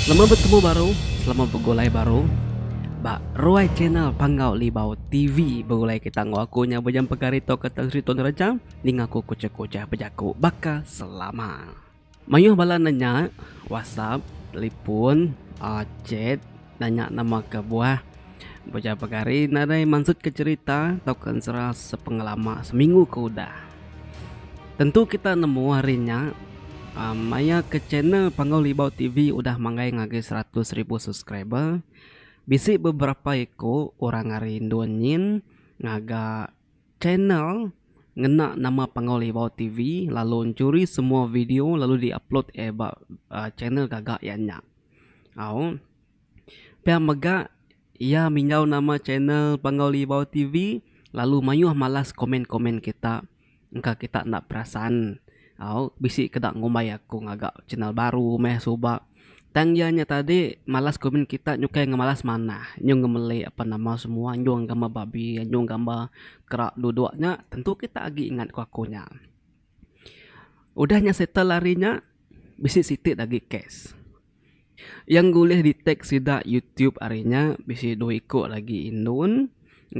Selamat betemu baru, selamat begulai baru ba ruai channel Panggau Libau TV. Begulai kita enggau aku nya Bujang Pegari tau ka Tan Sri Tun Reja ninga aku kuchah-kuchah bejaku baka selama. Mayuh bala nanya, WhatsApp, telefon, chat. nanya nama ke buah beja pegari nadai mansut ke cerita tauka ensera sepengelama seminggu ke udah. Tentu kita nemu hari nya aaa maya ke channel Panggau Libau TV udah manggai ngagai seratus ribu subscriber bisi beberapa iku orang ari endur nyin ngaga channel ngena nama Panggau Libau TV lalu ncuri semua video lalu di upload iya ba channel gaga iya nya. Au. Pia mega iya mingau nama channel Panggau Libau TV lalu mayuh malas komen-komen kita. Engka kita enda perasan. Au. Bisi ke eda ngumbai aku ngaga channel baru meh suba. Tang iya nya tadi malas komen kita nyukai ngemalas manah. Nyung ngemeli apan nama semua nyung gambar babi, nyung gambar kera duduk nya tentu kita agi ingat ku aku nya. Udah nya settle hari nya bisi siti agi lagi kes. Yang bulih di tag sida youtube hari nya bisi dua iko lagi indon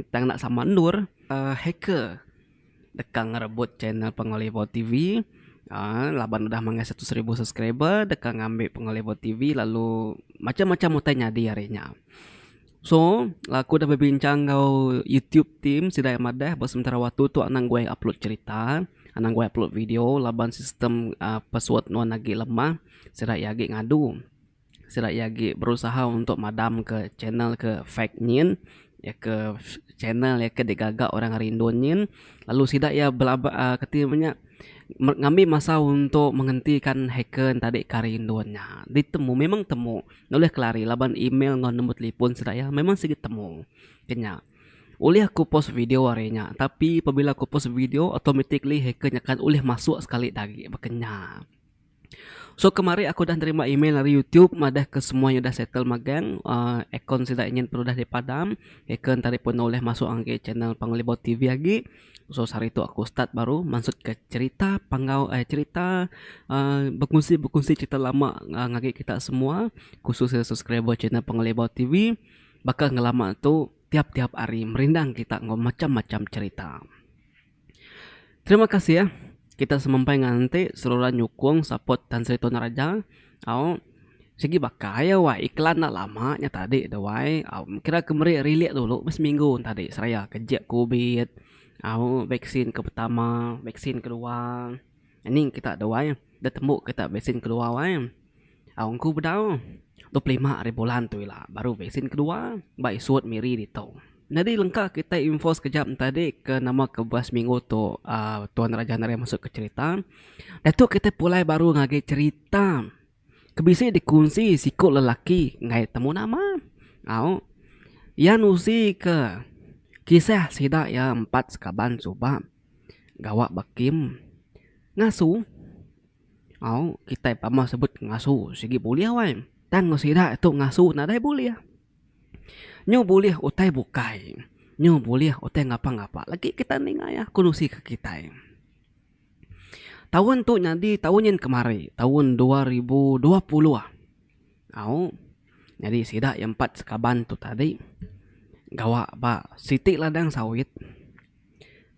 tang enda sama endur uhh hacker deka ngerebut channel pengelebau tv uhh laban udah manggai seratus ribu subscriber deka ngambi pengelebau tv lalu macam-macam utai nyadi hari nya. So, aku udah bebincang enggau YouTube team sida iya madah ba sementara waktu tu anang guai upload cherita, anang guai upload video laban sistem uhh password nuan agi lemah, sida iya agi ngadu. Sida iya agi berusaha untuk madamka channel ke fake nyin, iya ke channel iya ke digaga orang rindun nyin lalu sida iya belaba uhh kati ibuh nya ngambi masa untuk menghentikan hacker enti tadi ka rindun nya. Ditemu memang temu. Nulih kelari laban email enggau nombor telefon sida iya memang sigi temu ke nya. Ulih aku post video ari nya tapi pabila aku post video automatically hacker nyakat ulih masuk sekali da agi baka nya. So kemari aku udah nerima email ari YouTube madah ke semua iya udah settle magang uhh akaun sida nyin pun udah dipadam. Hacker enti ari pun ulih masuk ngagai channel Panglibau TV agi. So sehari tu aku start baru mansutka cherita panggau eh cherita bekunsi-bekunsi cherita lama ngagai kita semua khusus iya subscriber channel Pengelibau TV baka ngelama tu tiap-tiap hari merindang kita enggau macam-macam cherita. Terima kasih kita semampai ngan enti seruran nyukung support Tan Sri Tun Raja. Au. Sigi baka iya wai iklan enda lama nya tadi tu wai. Au kira ke meri relate dulu meh seminggu ne tadi seraya ke jek covid, au vaksin ke pertama, vaksin ke kedua. Ning kita tu wai deh tembu kita vaksin ke kedua wai. Au engku bedau dua puluh lima ari bulan tu ila baru vaksin ke kedua ba isut miri ditu. Nyadi lengka kitai info sekejap entadi ke nama ke bas minggu tu uhh Tuan Raja Nerian masu ke cherita. Diatu kitai pulai baru ngagai cherita ke bisi dikunsi siku lelaki enggau temu nama. Au iya nusi ke kisah sida iya empat sekaban suba gawa ba kem ngasu. Au kitai pama sebut ngasu sigi bulih awai tang sida tu ngasu nadai bulih. Nyu bulih utai bukai. Nyu bulih utai ngapa-ngapa lagi kita ninga iya ku nusi ke kitai. Taun tu nyadi taun nyin kemari, taun dua ribu dua puluh. Au, nyadi sida iya empat sekaban tu tadi gawa ba siti ladang sawit.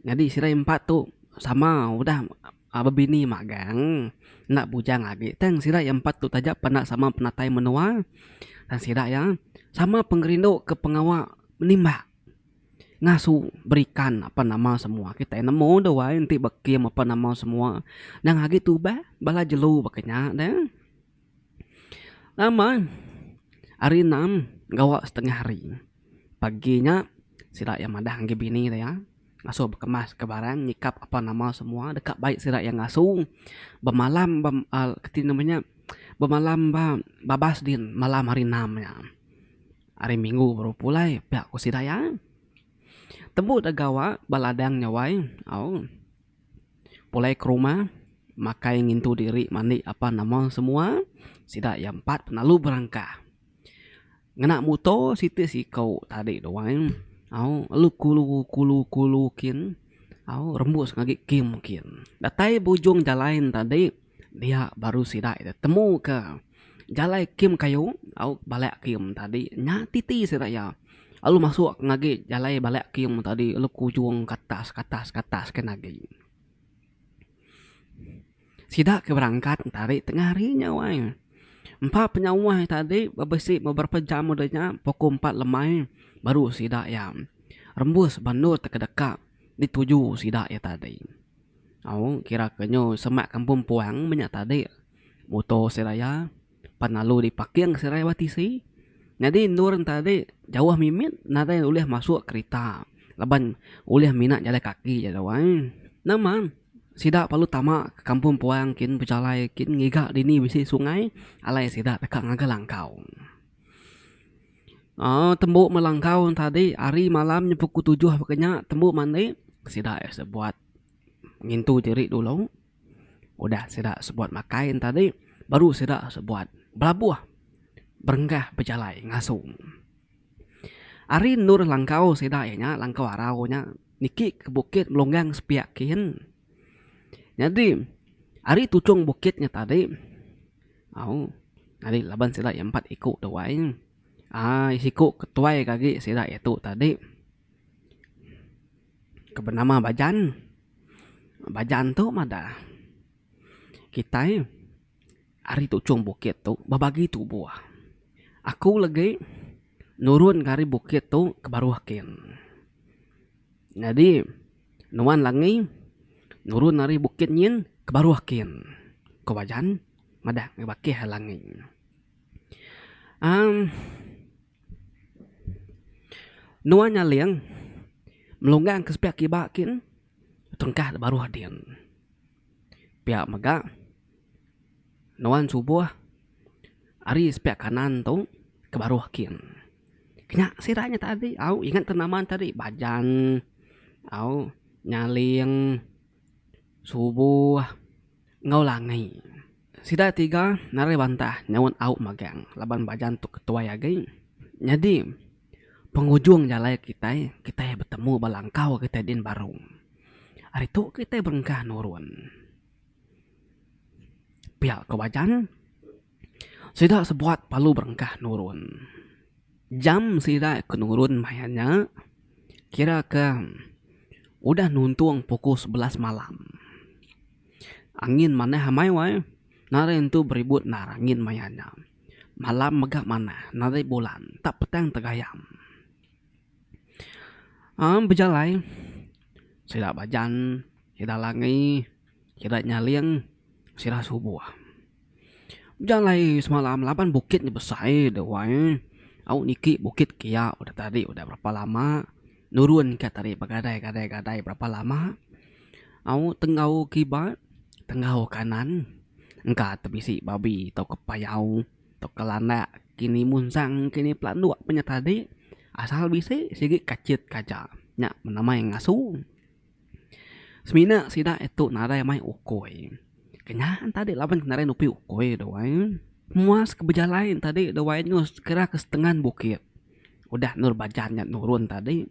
Nyadi sida impat tu sama udah bebini magang enda bujang agi tang sida iya empat tu taja peda sama penatai menua tang sida iya sama pengerindu ke pengawa menimbak ngasu berikan apan nama semua kitai nemu deh wai enti bekim apan nama semua nyang agi tuba bala jelu baka nya de. Nama hari enam gawa setengah hari pagi nya sida iya madah ngagai bini iya ngasuh bekemas ka barang nyikap apan nama semua deka baik sida iya ngasuh bemalam ba uhh ti nama nya bemalam ba babas din malam hari enam nya hari minggu baru pulai pia ku sida iya tembu da gawa ba ladang nya wai au. Pulai ke rumah makai ngintu diri mandi apan nama semua sida iya empat penalu berangkah ngena muto siti siko tadi duai au lalu kulu kulu kulu kin au rembus agi kim kin datai bujung jalai enti tadi. Dia baru sida iya temu ke jalai Kim Kayu au bala Kim tadi nya titi sida iya lalu masuk ke ngagai jalai bala Kim tadi lalu kujung ke atas ke atas ke atas ke atas agi. Sida ke berangkat tadi tengah hari nya wai empa penyawa tadi besi beberapa jam udah nya pukul empat lemai baru sida iya rembus banut ke deka dituju sida iya tadi. Au kira ke nyu semak kampung puang menya tadi muto seraya pan lalu di parking seraya ba tisi nyadi endur ne tadi jauh mimit nadai ulih masuk kerita laban ulih mina jalai kaki ja tu ai nang man sida perlu tama ke kampung puang kin bejalai kin ngiga dini bisi sungai alai sida deka ngaga langkau. Aa tembu melangkau ne tadi hari malam nya pukul tujuh pekeh nya tembu mandi sida sebuat ngintu diri dulu udah sida sebuat makai ne tadi baru sida sebuat belabuh berenggah bejalai ngasu. Hari endur langkau sida iya nya langkau arau nya niki ke bukit Melonggang sepiak kin. Nyadi hari tuchung bukit nya tadi. Au, ari laban sida iya empat iku tu ai. Ai siku ke tuai ke agi sida iya tu tadi ke benama Bajan. Bajan tu madah kitai ari tuchung bukit tu bebagi tubuh. Aku legi nurun ke ari bukit tu ke baruh kin. Nyadi. Nuan Langi nurun ari bukit nyin ke baruh kin, ko Bajan madah ngebakih ai Langi. Amm nuan Nyaling melunggang ke sepiak kiba kin tengkah da baruh din. Pia mega nuan Suboh ari sepiak kanan tu ke baruh kin. Nya sida nya tadi au ingat ke nama ne tadi bajan au nyaling subuh enggau langi. Sida tiga narai bantah nyaunt au magang laban bajan tu ke tuai agi. Nyadi pengujung jalai kitai, kitai betemu ba langkau kitai din baru. Ari tu kitai berengkah nurun pia ko bajan. Sida sebuat palu berengkah nurun. Jam sida ke nurun maya nya kira ke udah nuntung pukul sebelas malam. Angin manah amai wai. Nadai nentu beribut endar angin maya nya. Malam mega manah, nadai bulan, tak petang tegayam. Aa bejalai sida bajan, sida langi, sida nyaling, sida subuh. Ujan alai semalam laban bukit nya besai deh wai. Au niki bukit kia udah tadi udah berapa lama nurun ka tadi begadai gadai gadai berapa lama. Au tenggau kiba tenggau kanan engka te bisi babi tauka payau tauka landak kini munsang kini pelanduk pe nya tadi asal bisi sigi kachit kaja nya penamai ngasu. Semina sida e tu nadai mai ukoi. Kenya tadi laban kenara nupi ukoi duai muas ke bejalai tadi duai eno sekira ke setengan bukit udah endur bajan nya nurun tadi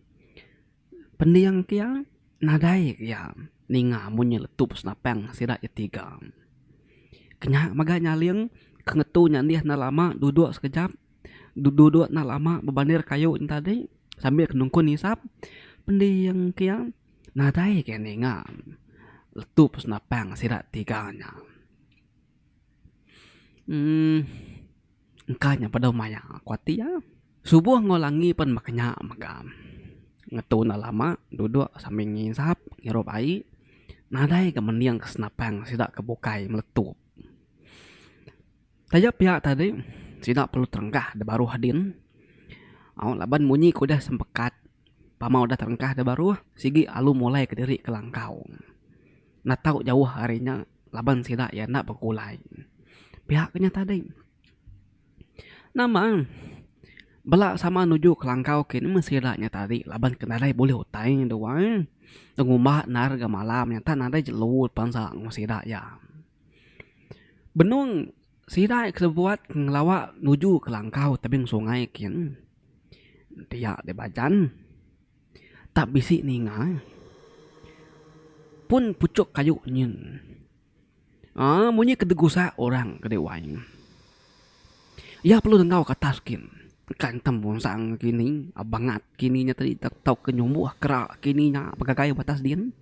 pending ke iya nadai ke iya ninga amun iya letup senapang sida iya tiga. Kenya mega nyaling ke ngetu nya deh enda lama duduk sekejap. duduk enda lama bebandir kayu nya tadi sambil ke nungkun hisap pending ke iya nadai ke ninga letup senapang sida tiga nya um engka nya peda maya ku ati iya subuh enggau langi pen meh ke nya mega ngetu enda lama duduk sambil ngisap ngirup ai nadai ke mending ke senapang sida ke bukai meletup. Taja pia tadi, sida perlu terengkah da baruh din. Au, laban munyi ke udah sempekat, pama udah terengkah da baruh, sigi alu mulai ke diri ke langkau. Enda tau jauh ari nya laban sida iya enda bekulai. Pia ke nya tadi. Nama bela sama nuju ke langkau ke ni meh sida nya tadi laban ke nadai bulih utai dua, dengumba endar ga malam nyata nadai jelu bansa enggau sida iya. Benung sida ke sebuat ngelawa nuju ke langkau tebing sungai kin pia di Bajan tak bisi ninga pun puchok kayu nyin aaa munyi ke degusa orang ke di wai nya iya perlu dengau ke atas kin engka ntem bungsang kini bangat kini nya tadi tau ke nyumbuh kera kini nya begagai batas din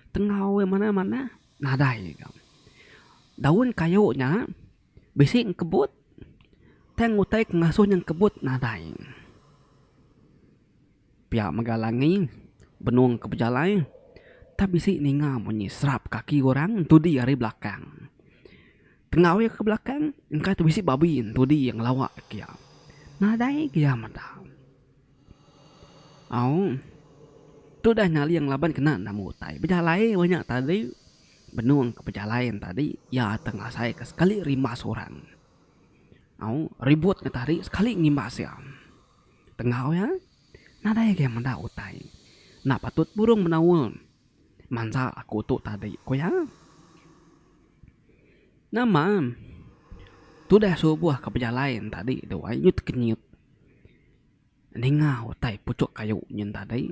tengau iya manah manah. Nadai ga. Daun kayu nya bisi engkebut tang utai ke ngasuh nya engkebut nadai. Pia mega langi benung ke bejalai tang bisi ninga bunyi serap kaki orang entudi ari belakang. Tengau iya ke belakang engka tu bisi babi entudi iya ngelawa ke iya. Nadai ga iya meda. Au. Tu dah nyaling laban kena namu utai bejalai inya nya tadi. Benung ke bejalai nya tadi iya akan ngasai ke sekali rimbas orang. Au ribut nya tadi sekali ngimbas iya. Tengau iya nadai agi meda utai enda patut burung menaul. Mansa aku tu tadi, ku iya. Nama tudah subuh ke bejalai tadi tu ai nyut ke nyut ninga utai puchuk kayu nyin tadi.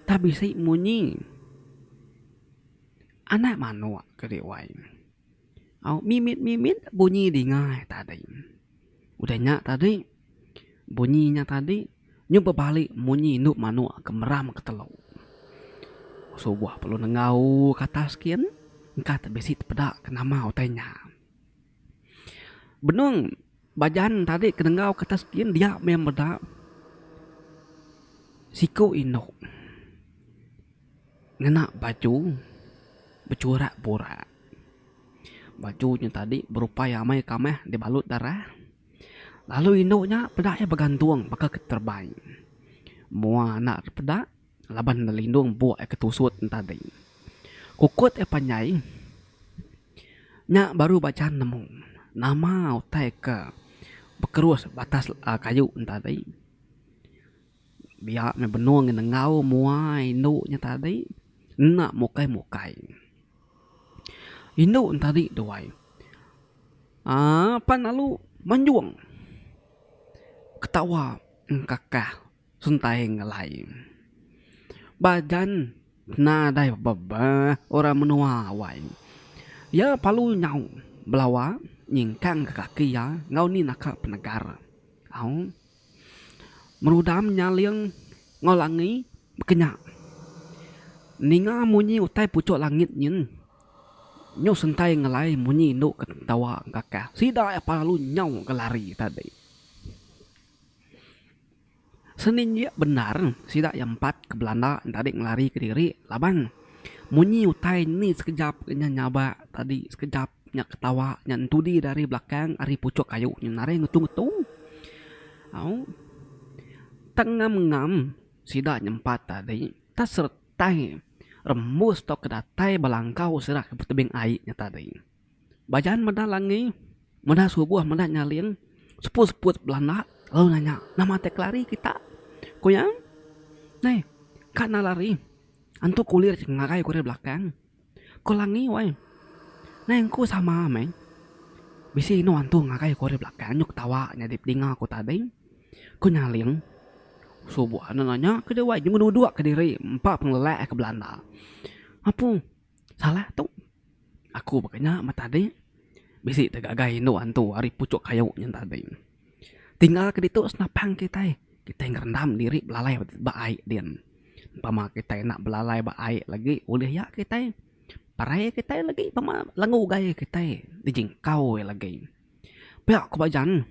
Tang bisi munyi anak manuk ke dih wai. Au mimit mimit bunyi dinga iya tadi. Udah nya tadi. Bunyi nya tadi nyu bebali munyi indu manuk ke meram ke telu. Subuh perlu nengau ke atas gin engka te bisi tepeda ke nama utai nya. Benung bajan tadi ke nengau ke atas gin dia meh meda siku indu ngena baju bechurak burak. Baju nya tadi berupai amai kameh dibalut darah. Lalu indu nya peda iya begantung baka ke terebai mua anak ne peda laban ngelindung empuk iya ke tusut entadi. Kukut iya panjai nya baru ba chan nemu nama utai ke bekerus batas kayu entadi. Dia meh benung ngi nengau mua indu nya tadi enda mukai mukai. Indu nya tadi tuai aaa pan lalu manjung ketawa engkakah sentai ngelai. Ba jan nadai bebeh orang menua wai. Iya perlu nyau belawa nyingkang kaki iya enggau ni naka penegar au. Merudam nyaling enggau langi bekenya. Ninga munyi utai puchok langit nyin. Nyau sentai ngelai munyi indu ke ketawa engkakah. Sida iya pah lalu nyau ke lari tadi. Seninjik bendar sida iya empat ke belanda nya tadi ngelari kediri laban munyi utai ni sekejap ke nya nyabak tadi sekejap Nya ketawa nya entudi dari belakang ari puchuk kayu nyu naring ngetu-ngetu. Au. Tak ngam-ngam sida nyempat tadi, tak seretai rembus tauka datai bala engkau sida ke betebing ai nya tadi. Bajan meda langi, meda subuh, meda nyaling, seput-seput belanda lalu nanya, Nama ti kelari kita? Ku iya, Neh, ka enda lari. Antu kulir ngagai ku ari belakang. Ko Langi wai. Nai engku sama meh. Bisi inu antu ngagai ku ari belakang nyuk tawa nyadi pedinga ku tadi. Ku Nyaling. Subo anu nanya ke dia wai nyuk duduk ke diri empa pengelelak ke belanda. Apu salah tu. Aku baka nya meh tadi. Bisi te gagai inu antu ari puchuk kayu nyen tadi. Tinggal ke ditu senapang kitai, kitai ngerendam diri belalai ba ai din. Umpama kitai enda belalai ba ai lagi ulih iya kitai parai kitai lagi pama lenga ugai kitai dijingkau iya lagi. Pia ku ba jan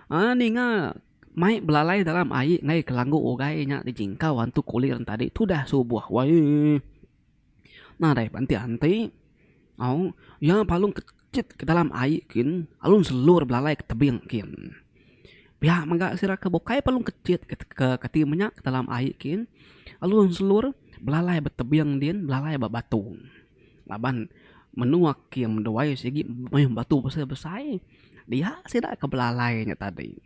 uhh ninga mai belalai dalam ai ngai ke langgu ugai nya dijingkau antu kulir tadi tudah subuh wayee. Nadai ba enti anti au iya palung kejit ke dalam ai kin alun selur belalai ke tebing kin. Pia mega sida ke bukai palung kejit ke kati menya ke dalam ai kin alun selur belalai ba tebing din belalai ba batu. Laban menua ke duai sigi mayuh batu besai besai dia sida ke belalai nya tadi.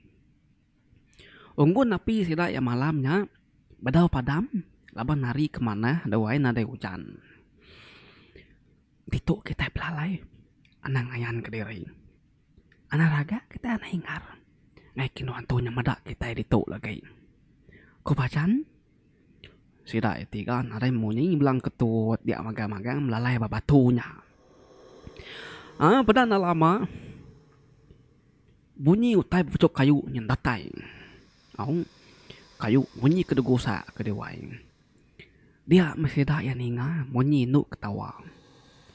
Unggun api sida iya malam nya bedau padam laban hari ke manah duai nadai ujan. Ditu kitai belalai anang ngayan ke diri. Anang raga kitai anang hingar ngagai kenu antu nya meda kitai ditu lagi. Ku Bajan sida iya tiga nadai munyi blang ke tut dia magang magang belalai ba batu nya. Aaa peda enda lama. Munyi utai bepechup kayu nyin datai. Au. Kayu munyi ke degusak ke dewai. Dia meh sida iya ninga munyi indu ketawa.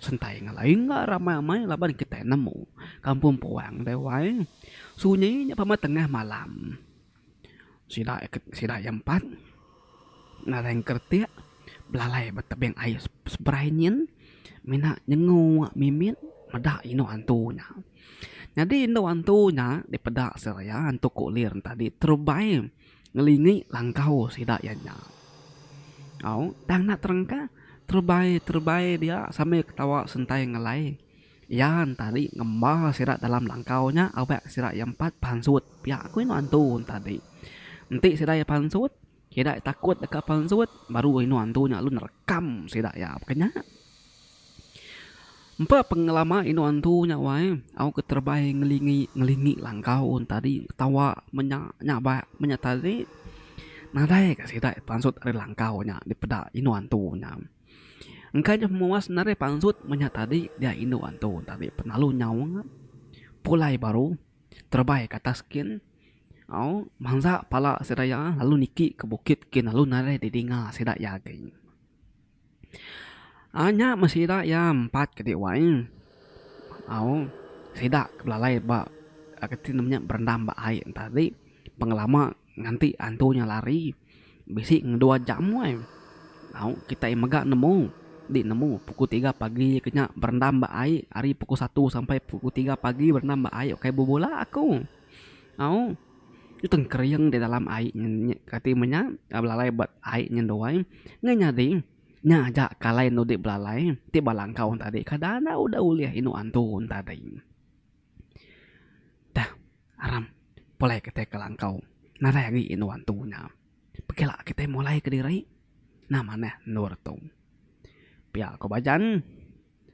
Sentai ngelai enggau ramai-ramai laban kitai nemu kampung puang dewai sunyi nya pemai tengah malam. Sida ke sida ke empat ngagai engkertik belalai ba tebing air seberai nyin mina nyengu mimit meda inu antu nya. Nyadi inu antu nya dipeda seraya antu kulir enta di terubai ngelingi langkau sida iya nya. Au tang enda terengkah terubai terubai dia sambil ketawa sentai ngelai. Iya ntadi ngemba sida dalam langkau nya awak sida iya empat pansut pia ku inu antu ntadi. Enti sida iya pansut, sida iya takut deka pansut baru inu antu nya lalu nerekam sida iya baka nya. Empa pengelama inu antu nya wai au keterebai ngelingi ngelingi langkau ntadi ketawa menya nyabak menya tadi nadai ka sida pansut ari langkau nya dipeda inu antu nya. Engkaja memuas narai pansut menyah tadi dia indu antu tabi penalu nyaung pulai baru terebai ke atas kin au mansa pala sida iya lalu niki ke bukit kin lalu narai didinga sida iya agi. Aaa nya meh sida iya empat ke dek wai au sida ke belalai ba reti ne nya berendam ba ai tadi pengelama. Nganti antu nya lari, bisi ngeduwa jam wai. Au, kitai mega nemu. Di nemu, pukul tiga pagi ke nya berendam ba ai, ari pukul satu sampai pukul tiga pagi berendam ba ai ukai bebula aku. Au, nya tengkering di dalam ai nya kati meh nya, belalai ba ai nya duai. Ngah nyadi, nya aja ke alai enda dudi belalai, ti ba langkau tadi kada enda udah ulih indu antu tadi. Dah aram pulai kitai ke langkau nadai agi indu antu nya. Pekila kitai mulai kediri nah manah endur tu. Pia ku ba jan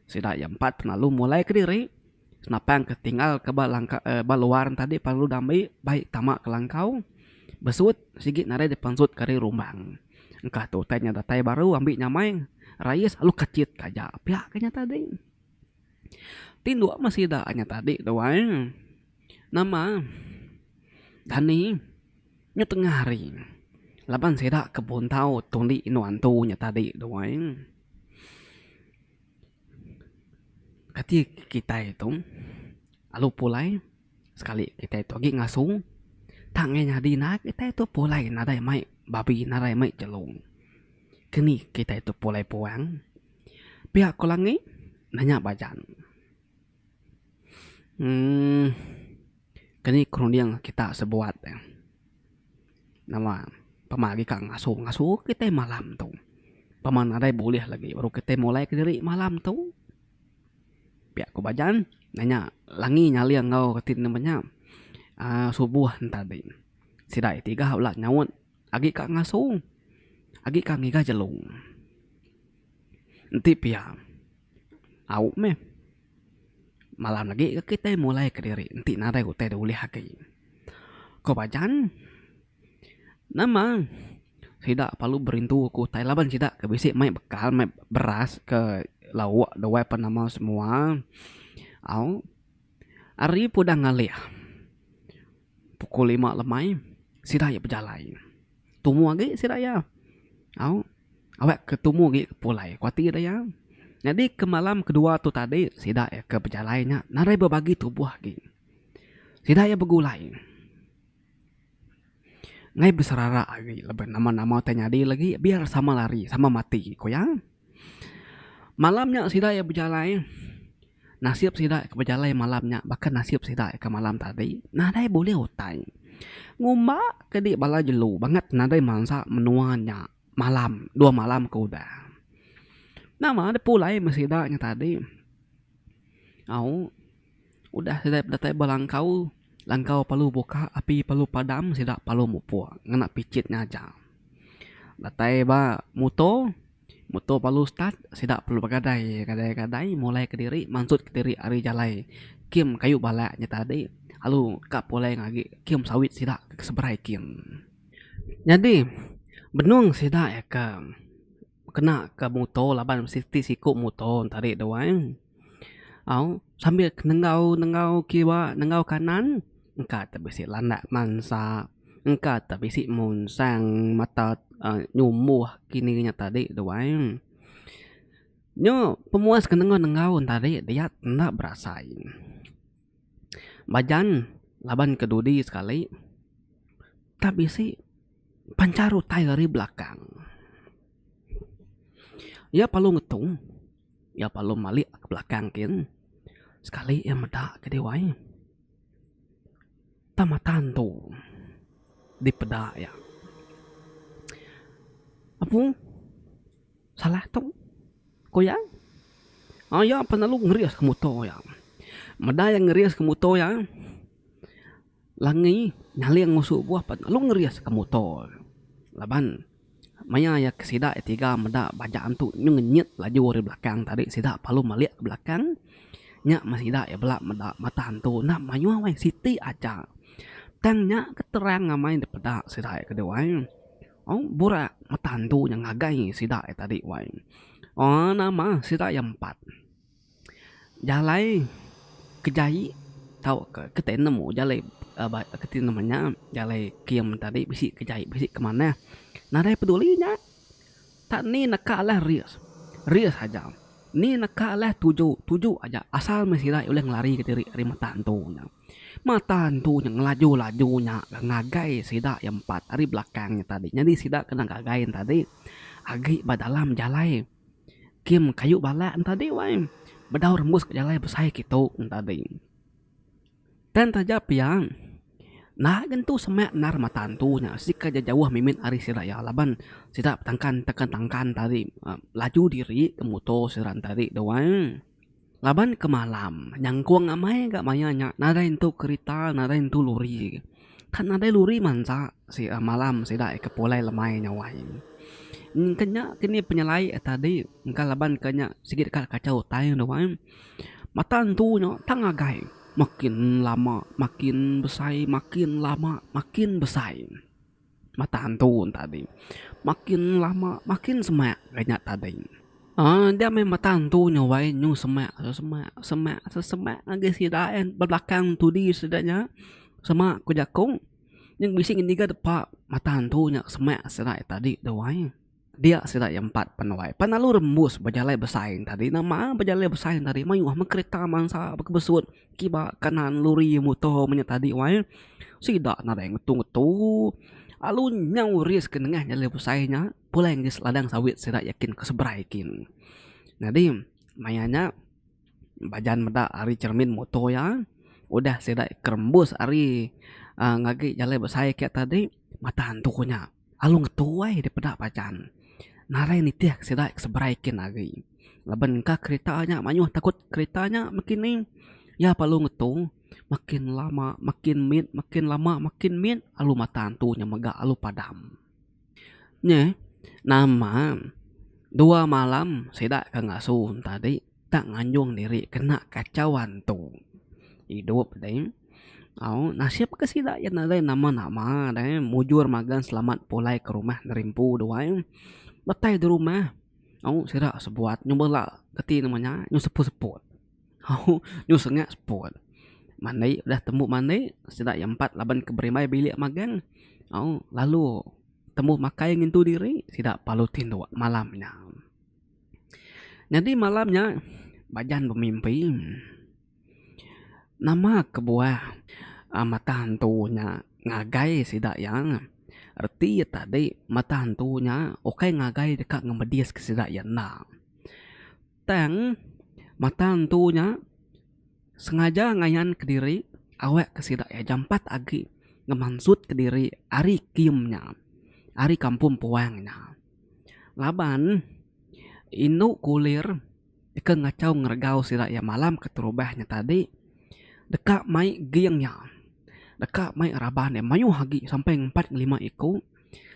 sida iya empat pengalu mulai kediri senapang ke tinggal ke ba langkau uhh ba luar tadi pengalu dami bai tama ke langkau besut sigi nadai dipensut ke ari rumbang. Engka tu utai nya datai baru ambi nyamai rais lalu kechit ke aja. Pia ke nya tadi. Tinduk meh sida nya tadi tu ai nama dani nyu tengah hari laban sida ke pun tau tundi inu antu nya tadi tu ai kati kitai tu lalu pulai. Sekali kitai tu agi ngasung tang ngai nyadi naak kitai tu pulai nadai mai babi nadai mai jelung. Keni kitai tu pulai puang pia ku langi nanya bajan. Emm keni ku runding kita sebuat eh nama pama agi ka ngasung ngasung kitai malam tu pama nadai bulih lagi baru kitai mulai kediri malam tu. Pia ku Bajan nanya Langi nyaling enggau reti nemu nya aaa subuh entadi. Sida ti tiga bela nyaut agi ka ngasu agi ka ngiga jelu. Enti pia au meh malam agi ke kitai mulai kediri enti nadai utai da ulih agi. Ko Bajan. Nama sida perlu berintu ku utai laban sida ke bisi mai bekal mai beras ke lauk duai pa nama semua au ari pun udah ngalih pukul lima lemai sida iya bejalai tumu agi sida iya au awe ke tumu agi ke pulai ku ati da iya nyadi ke malam ke dua tu tadi sida iya ke bejalai nya narai bebagi tubuh agi sida iya begulai. Ngai beserara ari laban nama-nama ti nyadi lagi biar sama lari sama mati ku iya. Malam nya sida iya bejalai nasib sida ke bejalai malam nya baka nasib sida ke malam tadi nadai bulih utai. Ngumba ke di bala jelu banget nadai mansa menua nya malam dua malam ke udah. Nama dep pulai meh sida nya tadi au. Udah sida bedatai ba langkau, langkau parlu buka, api parlu padam, sida parlu mupuk ngena pichit ngaja. Datai ba muto, muto parlu start, sida parlu begadai, gadai-gadai mulai kediri, mansut kediri ari jalai kim kayu bala nya tadi lalu ka pulai ngagi kim sawit sida ke seberai kim. Nyadi benung sida ke. kena ke muto laban mesti ti siko muto tadi tu ai au sambil nengau nengau kiwa nengau kanan engka te bisi landak mansa engka te bisi monsang mata um nyumboh kini inya tadi tu ai nyo pemuas ke nengau nengau tadi dia enda berasai. Bajan laban ke dudi sekali tang bisi pancar utai ari belakang. Iya perlu ngetu, iya perlu malik ke belakang kin sekali iya meda ke diwai. Tang mata antu dipeda iya. Apu. Salah tu, ku iya. Iya pan lalu ngeriska muto iya. Meda iya ngeriska muto iya, Langi nyaling ngusuk buah pan lalu ngeriska muto iya. Laban maya iya ke sida iya tiga meda baja antu nyuh ngenyit laju ari belakang tadi sida lalu melik ke belakang nya meh sida iya bela meda mata antu enda mayuh weh siti aja. Tang nya ke terang amai dipeda sida iya ke dua. Aum burak metan tu nya ngagai sida iya tadi wai. Aum nama sida iya empat. Jalai ke jai tauka ke tandem oh jalai ke tandem nya jalai kim tadi bisi ke jai bisi ke manah. Nadai peduli nya tak ni neka alah risk, risk aja. Ni neka alah tuju, tuju aja asal meh sida ulih ngelari ke diri ari metan tu nya. Mata entu nya ngelaju-laju nya ga ngagai sida iya empat ari belakang nya tadi. Nyadi sida kena ngagai ne tadi agi ba dalam jalai kem kayu bala ne tadi wai. Bedau rembus ka jalai besai kitu ne tadi. Tang taja pia na'a ga entu semak endar mata entu nya siti ka jauh mimit ari sida iya laban sida betangkan tangkan tangkan tadi laju diri motor sida ne tadi tu ai. Laban ke malam, nyangkung amai ga maya nya nadai entu kerita nadai entu lori. Kan nadai lori mansa si a malam sida ika pulai lemai nya wai. Engka nya ke ni penyelai a tadi engka laban ke nya sigi deka kachau utai ne wai. Mata entu nya tang agai makin lama makin besai makin lama makin besai. Mata antu tadi makin lama makin semak ga nya tadi. Aaa enda meh mata antu nya wai nyu semak su semak semak su semak agi sida en bebelakang tudi sida nya semak ku jaku nyeng bisi ngiga depa mata antu nya semak sida tadi tu wai. Dia sida iya empat penuai pan lalu rembus bejalai besain tadi na maan bejalai besain tadi mayuh meh kerita bansa baka besut kiba kanan lori muto menya tadi wai sida nadai ngetu ngetu lalu nyau ris ke nengah jalai besai nya pulai ngis ladang sawit sida iya kin ke seberai kin. Nyadi maya nya bajan meda ari cermin muto iya udah sida iya ke rembus ari ngagai jalai besai kiya tadi mata antu nya. Alu ngetuai deh peda pajan narai nitih ke sida ke seberai kin agi. Laban engka kereta nya mayuh takut kereta nya makin ni iya perlu ngetu makin lama makin mit makin lama makin mit alu mata antu nya mega alu padam. Nyeh nama dua malam sida ke ngasu tadi. Tang nganjung diri kena kachauan tu. Idup deh. Au, nasib ke sida iya nadai nama-nama deh. Mujur magang selamat pulai ke rumah neri empu dua eh. Datai di rumah, au, sida sebuat nyau bela keti nama nya, nyau seput-seput. Au, nyau sengak seput. Mandi, udah tembu mandi, sida iya empat laban ke berimbai bilik magang, au, lalu tembu makai ngintu diri, sida parlu tinduk malam nya. Nyadi malam nya Bajan bemimpi nama kebuah mata antu nya ngagai sida iya reti iya tadi mata antu nya ukai ngagai deka ngemedis ke sida iya enda tang mata antu nya sengaja ngayan kediri awak ke sida iya jampat agi ngemansut kediri ari kimm nya ari kampung puang nya. Laban, indu kulir deka ngachau ngeregau sida iya malam keterubah nya tadi deka mai ging iya, deka mai raban iya mayuh agi sampai ngempat ngelima iku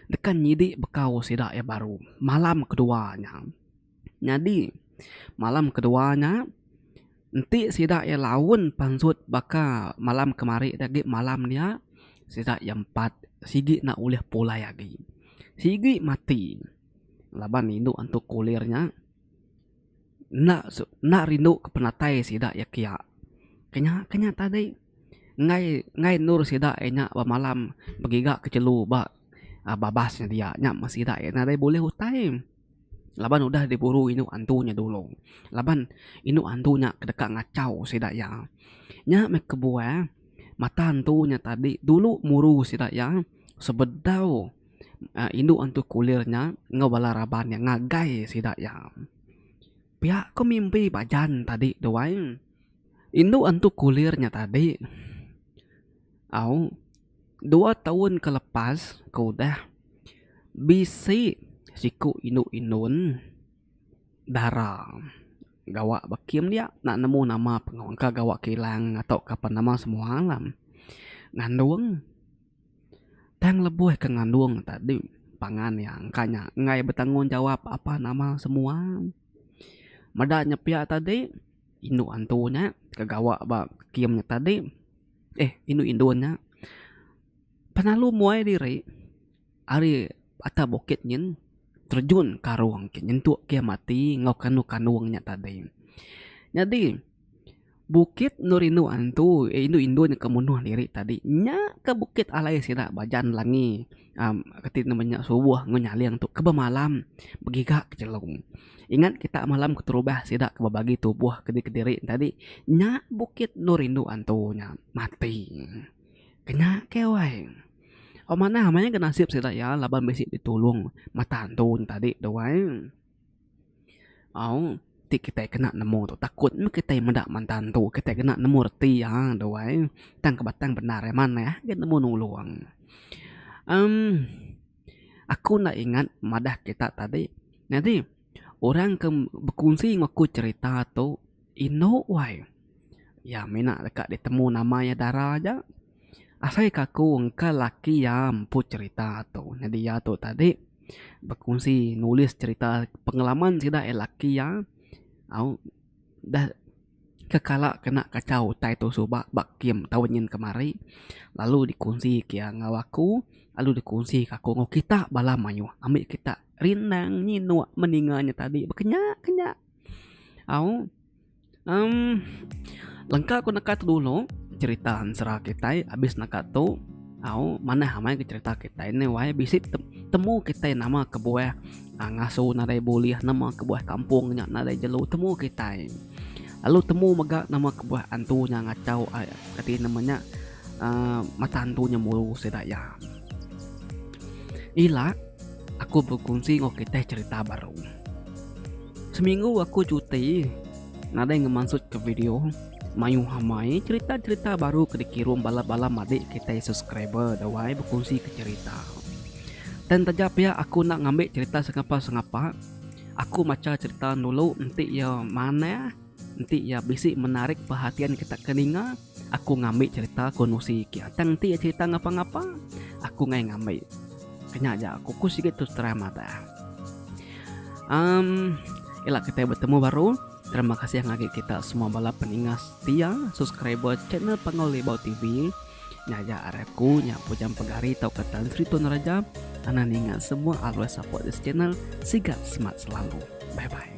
deka nyidi bekau sida iya baru malam kedua nya. Nyadi, malam kedua nya, enti sida iya laun pansut baka malam kemari ti agi malam dia, sida iya empat sigi enda ulih pulai agi. Sigi mati laban indu antu kulir nya enda su enda rindu ke penatai sida iya kia. Ke nya ke nya tadi enggai enggai endur sida iya nya bemalam begiga ke jelu ba babas nya dia. Nya meh sida iya nadai bulih utai. Laban udah diburu indu antu nya dulu. Laban indu antu nya deka ngachau sida iya. Nya meh kebuah mata antu nya tadi dulu muru sida iya sebedau uhh indu antu kulir nya enggau bala raban nya ngagai sida iya. Pia ku mimpi ba jan tadi tu ai. Indu antu kulir nya tadi au. Dua taun ke lepas ke udah, bisi siku indu Indon dara gawa ba kem dia enda nemu nama pengawa engka gawa ke ilang tauka pen nama semua alam ngandung tang lebuh ke ngandung tadi pangan iya engka nya enggai betanggungjawap apa nama semua. Meda nya pia tadi indu antu nya ke gawa ba kem nya tadi. eh indu indun nya penalu muai diri ari atas bukit nyin terejun ke arung ke nyentuk ke iya mati enggau kanung kanung nya tadi. Nyadi bukit endur indu antu eh indu indun ke munuh diri tadi nya ka bukit alai sida ba Jalan Langi. Um, keti kena menya subuh enggau nyaling tu keba malam begiga ke chelum. Ingat kita malam keterubah sida ke bebagi tubuh ke diri enti tadi nya bukit endur indu antu nya mati. Kena ke wai. Amanah maya ke nasib sida iya laban bisi ditulung mata antu nya tadi tu wai. Au ti kitai kena nemu tu takut meh kitai meda mata entu kitai kena nemu reti iya tu ai tang ke batang bendar iya manah agei nemu nulung. Em aku enda ingat madah kita tadi nyadi orang ke bekunsi enggau aku cerita tu indu wai iya mina deka ditemu nama iya dara aja. Asai ka aku engka laki iya empu cerita tu. Nyadi iya tu tadi bekunsi nulis cerita pengalaman sida iya laki iya au dah kekala kena kachau utai tu suba ba kem taun nyin kemari lalu dikunsi ke iya enggau aku lalu dikunsi ke aku enggau kita bala mayuh ami kita rindang nyinuk meninga nya tadi bekenya kenya au. Um, lengka ku neka tu dulu cerita ansra kitai habis neka tu au manah amai ke cerita kitai ne wai bisi temu kitai nama kebuah uh, ngasu nadai bulih nama kebuah kampung nya nadai jelu temu kitai lalu temu mega nama kebuah antu nya ngachau ai kati nama nya uh, mata antu nya muru sida iya ila Aku bekunsi enggau kitih cherita baru. Seminggu aku cuti, nadai ngemansutka video, mayuh amai cherita-cherita baru ke dikirum bala-bala madik kitai subscriber dawai bekunsika cherita. Tang taja pia aku enda ngambi cherita sengapa-sengapa, aku macha cherita dulu enti iya manah, enti iya bisi menarik perhatian kita ke ninga. Aku ngambi cerita ku Nusi ke atai enti iya cerita ngapa-ngapa, aku ngai ngambi. Ke nya aja aku ku sigi tu seterang madah. Am ila kitai betemu baru. Terima kasih ngagi kita semua bala peninga setia subscriber channel Panggau Libau TV. Nya aja ari aku nya Pujang Pegari tauka Tan Sri Tun Raja. Anang ninga semua always support this channel. Sigat semat selalu. Bye bye.